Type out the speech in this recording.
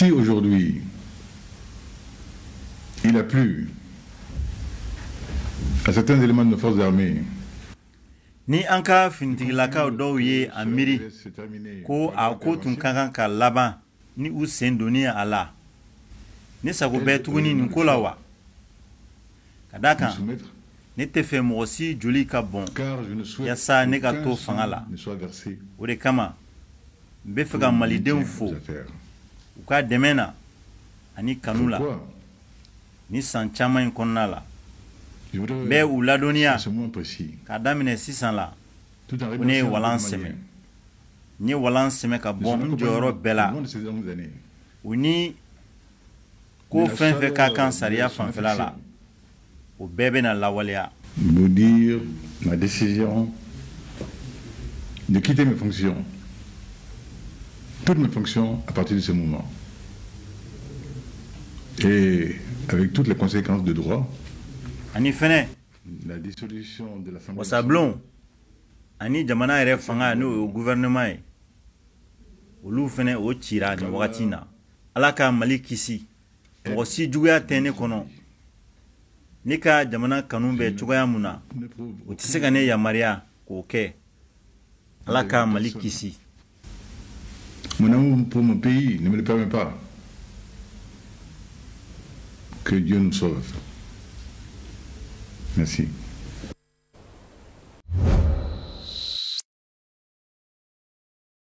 Si aujourd'hui, il a plu à certains éléments de nos forces armées ni an ka finitigilakaw dɔw ye a miiri ko a ko tun ka kan ka laban ni u sen donni a la ne sago bɛ tuguni nin ko la wa ka da kan ne tɛ fɛ mɔgɔ si joli ka bɔn yasa ne ka to fanga la o de kama n bɛ fɛ ka malidenw fo u ka dɛmɛ na ani kanu la nin san caman in kɔnɔna la n bɛ u ladɔnniya k'a daminɛ sisan la ko ne ye walan sɛmɛ n ye walan sɛmɛ ka bɔ n jɔyɔrɔ bɛɛ la u ni ko fɛn fɛn ka kan sariya fanfɛla la o bɛɛ bɛna lawaleya vous dire ma décision de quitter mes fonctions toutes mes fonctions à partir de ce moment et avec toutes les conséquences de droit ani fɛnɛ wasablon ani jamana yɛrɛ fanga n'o ye gouvernement ye olu fɛnɛ o cira nin wagati na ala ka mali kisi mɔgɔ si juguya tɛ ne kɔnɔ ne ka jamana kanu bɛ cogoya mun na o tɛ se ka ne yamaruya k'o kɛ ala ka mali kisi Mon amour pour mon pays ne me le permet pas. Que Dieu nous sauve. Merci.